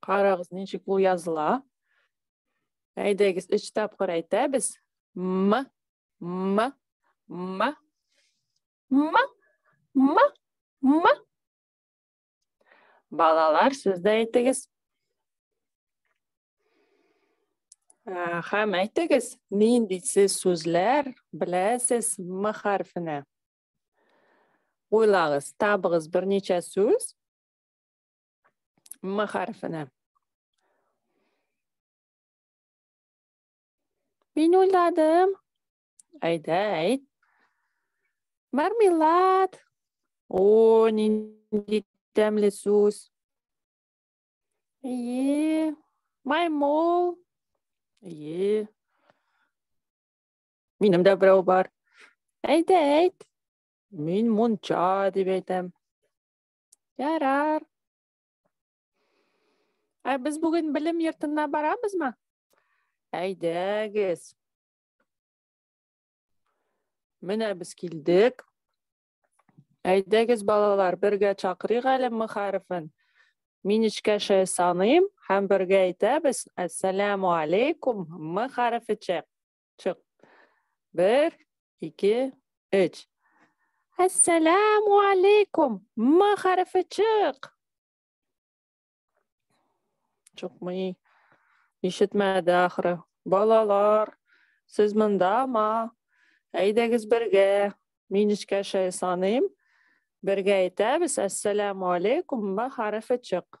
Карагыз, ничек ул языла. Әйдәгез, өч тапкыр әйтәбез. М, м, м, м, м, м. Балалар, сез дә әйтегез. Хәм әйтегез, нинди сез сүзләр беләсез м хәрфенә? Уйлагыз, табыгыз берничә сүз. М хәрефенә. Мин уйладым. Әйдә, әйт. Мармелад. О, нинди тәмле сүз. Әйе. Маймол. Әйе. Минем дә берәү бар. Әйдә, әйт. Мин мунча дип әйтәм. Ярар. Ә без бүген белем йортына барабызмы? Әйдәгез. Менә без килдек. Әйдәгез балалар, бергә чакырыйк әле м хәрефен. Мин эчкәшә саныйм һәм бергә әйтәбез. Әссәламу алейкум м хәрефечә. Чык. Бер, ике, өч. Әссәләму алейкум. М хәрефе чык. Чыкмый. Ишетмәде ахыры. Балалар, сез ма? Әйдәгез бергә. Мин эчкә шәй саныйм. Бергә әйтәбез. Әссәләму алейкум. М хәрефе чык.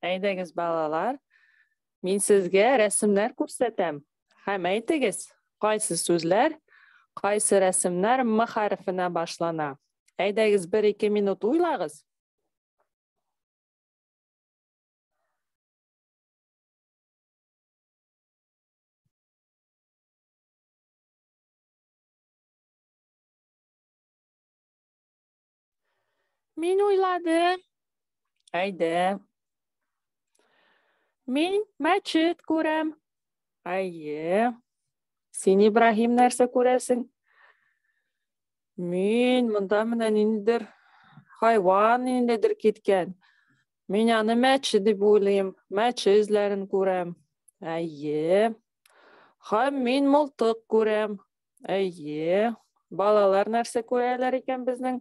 Әйдәгез, балалар, мин сезгә рәсемнәр күрсәтәм. Һәм әйтегез, кайсы сүзләр, кайсы рәсемнәр м хәрефенә башлана. Әйдәгез, бер ике минут уйлагыз. Мин уйладым. Әйдә. Мин мәчет күрәм. Әйе. Син Ибраһим нәрсә күрәсең? Мин монда менә ниндидер хайван ниндидер киткән. Мин аны мәче дип уйлыйм. Мәче эзләрен күрәм. Әйе. Һәм мин мылтык күрәм. Әйе. Балалар нәрсә күрәләр икән безнең?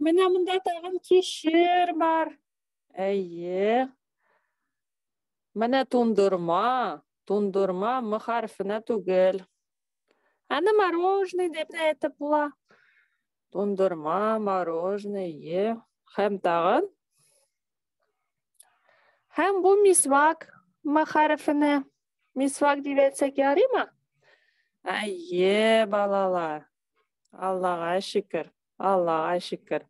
Менә монда тагын кишер бар. Әйе. Менә тундырма. Тундырма мы хәрфенә түгел. Аны мороженое дип тә әйтеп була. Тундырма, мороженое, е. Һәм тагын Һәм бу мисвак мәхәрефене мисвак дип әйтсәк ярыймы? Әйе, балалар. Аллага шөкер. Аллага шөкер.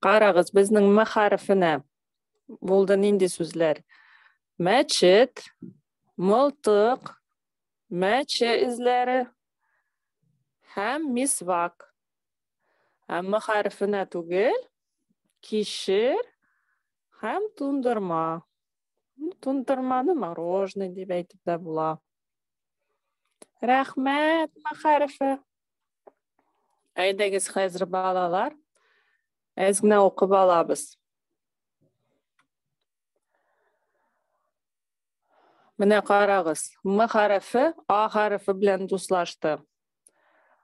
Карагыз, безнең мәхәрефенә булды нинди сүзләр? Мәчет, мылтык, мәче эзләре һәм мисвак. Әмма хәрефенә түгел, кишер һәм тундырма. Тундырманы мороженое дип әйтеп тә була. Рәхмәт, мәхәрифә. Әйдәгез хәзер балалар, әз генә укып алабыз. Менә карагыз, М хәрефе А хәрефе белән дуслашты.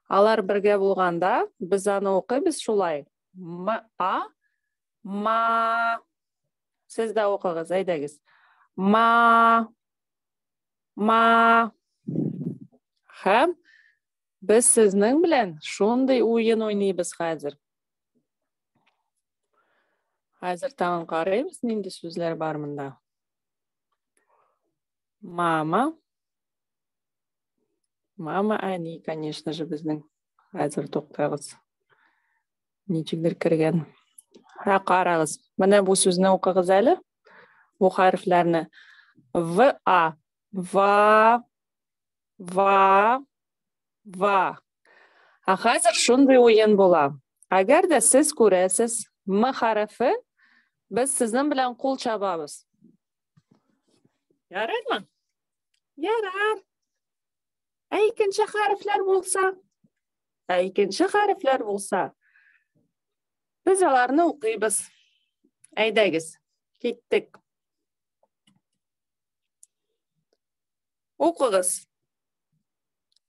Алар бергә булганда, без аны укыйбыз шулай. М, а, ма. Сез дә укыгыз, әйдәгез. Ма, ма. Хәм, без сезнең белән шундый уен уйныйбыз хәзер. Хәзер тагын карыйбыз, нинди сүзләр бар монда. Мама. Мама Ани, конечно же, безнең. Хәзер туктагыз. Ничегдер кергән. Һә карагыз. Менә бу сүзне укыгыз әле. Бу хәрефләрне. В А. Ва. Ва. Ва. Ә хәзер шундый уен була. Әгәр дә сез күрәсез М хәрефе, без сезнең белән кул чабабыз. Ярыймы? Ярар. Ә икенче хәрефләр булса? Ә икенче хәрефләр булса? Без аларны укыйбыз. Әйдәгез, киттек. Укыгыз.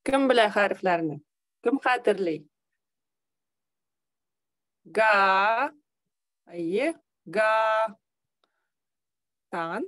Кем белә хәрефләрне? Кем хәтерли? Га. Әйе, га. Тан.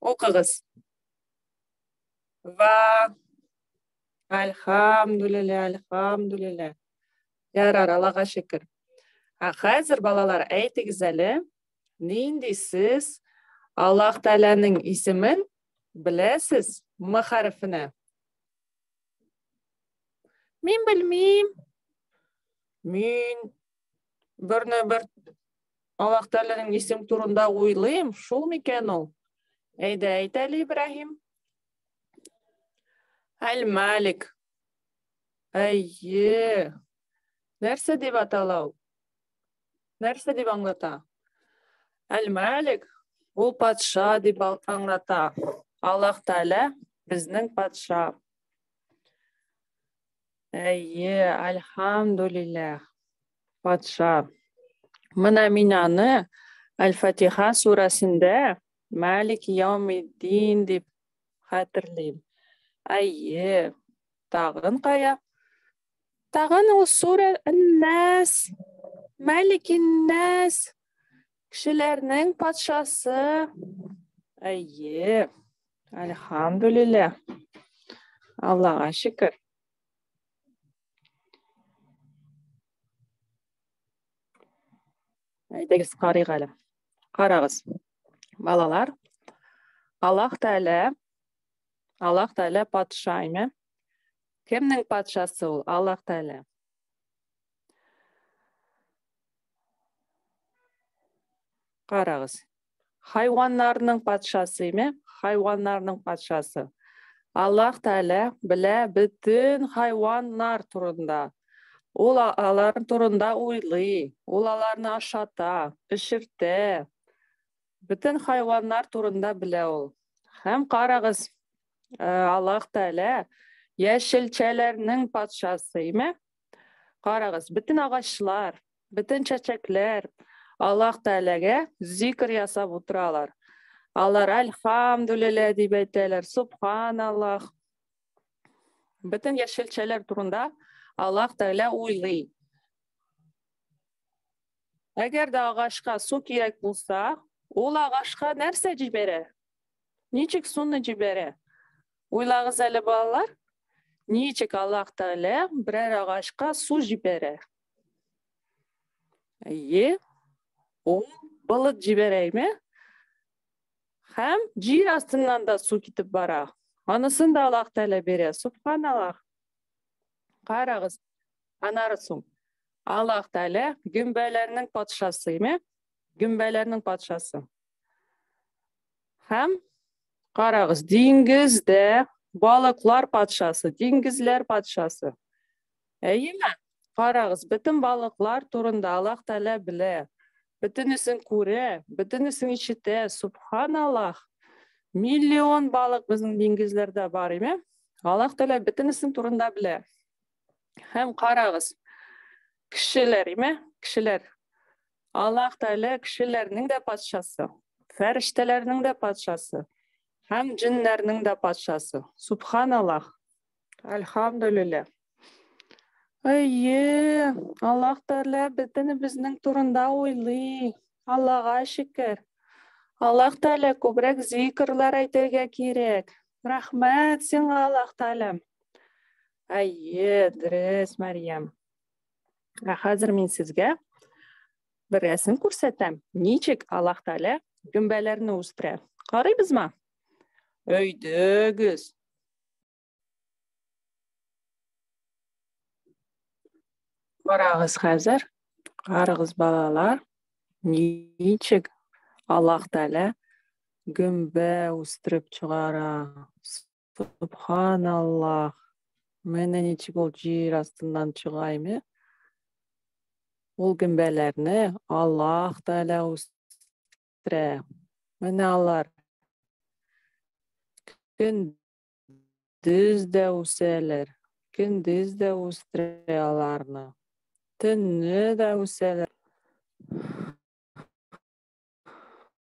Укыгыз. Ва. Альхамдулилля, альхамдулилля. Ярар, Аллага шөкер. Ә хәзер балалар, әйтегез әле, нинди сез Аллаһ Тәгаләнең исемен беләсез? М хәрефенә. Мин белмим. Мин Берне бер Аллаһ Тәгаләнең исем турында уйлыйм, шул микән ул? Әйдә, әйт әле, Ибраһим. Әл-Малик. Әйе. Нәрсә дип атала ул? Нәрсә дип аңлата? Әл-Малик ул патша дип аңлата. Аллаһ Тәгалә безнең патша. Әйе, альхамдулиллах. Патша. Менә мин аны Аль-Фатиха сүрәсендә Малик Яумиддин дип хәтерлим. Әйе, тагын кая? Тагын ул сүрә Нәс, Малик Нәс Кешеләрнең патшасы. Әйе. Әлхамдулилля. Аллаһка шөкер. Әйдәгез карыйк әле. Карагыз. Балалар, Аллаһ Тәгалә Аллаһ Тәгалә патша име? Кемнең патшасы ул? Аллаһ Тәгалә. Карагыз. Хайваннарның патшасы, ме? Хайваннарның патшасы. Аллах Тәгалә белә бөтен хайваннар турында. Ул алар турында уйлый, ул аларны ашата, пешертә. Бөтен хайваннар турында белә ул. Һәм карагыз, э, Аллах Тәгалә яшелчәләрнең патшасы, ме? Карагыз, бөтен агачлар, бөтен чәчәкләр Аллаһ Тәгаләгә зикр ясап утыралар. Алар альхамдулилля дип әйтәләр, субханаллах. Бөтен яшелчәләр турында Аллаһ Тәгалә уйлый. Әгәр дә агачка су кирәк булса, ул агачка нәрсә җибәрә? Ничек суны җибәрә? Уйлагыз әле, балалар, ничек Аллаһ Тәгалә берәр агачка су җибәрә? Әйе, ул болыт җибәрә, әйме? Һәм җир астыннан да су китеп бара. Анысын да Аллаһ Тәгалә бирә. Субханаллаһ. Карагыз, анарысың. Аллаһ Тәгалә гөмбәләрнең патшасы, әйме? Гөмбәләрнең патшасы. Һәм карагыз, диңгездә балыклар патшасы, диңгезләр патшасы. Әйеме? Карагыз, бөтен балыклар турында Аллаһ Тәгалә белә. Бөтенесен күрә, бөтенесен ишетә. Субханаллах. Миллион балык безнең диңгезләрдә бар, әйме? Аллаһ Тәгалә бөтенесен турында белә. Һәм карагыз, кешеләр, име? Кешеләр. Аллаһ Тәгалә кешеләрнең дә патшасы, фәрештәләрнең дә патшасы һәм җиннәрнең дә патшасы. Субханаллаһ. Альхамдулиллаһ. Әйе, Аллаһ Тәгалә бөтенебезнең турында уйлый. Аллаһга шөкер. Аллаһ Тәгалә күбрәк зикрлар әйтергә кирәк. Рәхмәт сиңа, Аллаһ Тәгаләм. Әйе, дөрес, Мәриям. Ә хәзер мин сезгә бер рәсем күрсәтәм. Ничек Аллаһ Тәгалә гөмбәләрне үстерә? Карыйбызмы? Өйдөгез. Карагыз хәзер, карагыз балалар, ничек Аллаһ Тәгалә гөмбә үстереп чыгара. Субханаллах. Менә ничек ул җир астыннан чыга име? Ул гөмбәләрне Аллаһ Тәгалә үстерә. Менә алар көндез дә үсәләр, көндез дә үстерә аларны. Төнне дә үсәләр.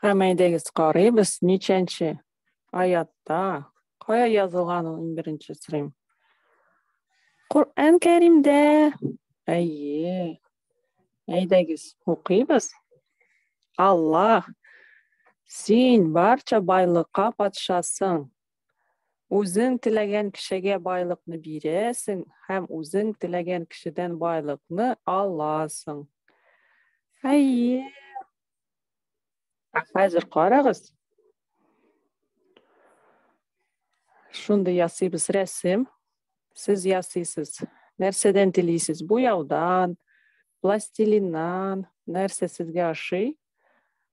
Хәмәйдегез карыйбыз, ничәнче аятта, кая язылган ул иң беренче сорыйм. Коръән Кәримдә. Әйе. Әйдәгез, укыйбыз. Аллаһ, син барча байлыкка патшасың, Үзең теләгән кешегә байлыкны бирәсең һәм үзең теләгән кешедән байлыкны аласың. Әйе. Ә хәзер карагыз. Шундый ясыйбыз рәсем. Сез ясыйсыз. Нәрсәдән телисез? Буяудан, пластилиннан, нәрсә сезгә ошый?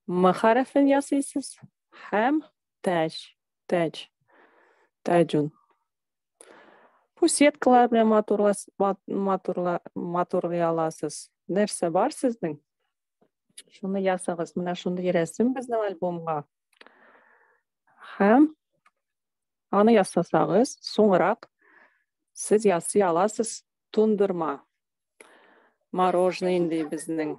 М хәрефен ясыйсыз һәм Тәҗ, тәҗ, тәҗун. Бу сеткалар белән матурлас, матурла, матурлый аласыз. Нәрсә бар сезнең? Шуны ясагыз. Менә шундый рәсем безнең альбомга. Һәм аны ясасагыз, соңрак сез ясый аласыз тундырма. Мороженое инде безнең.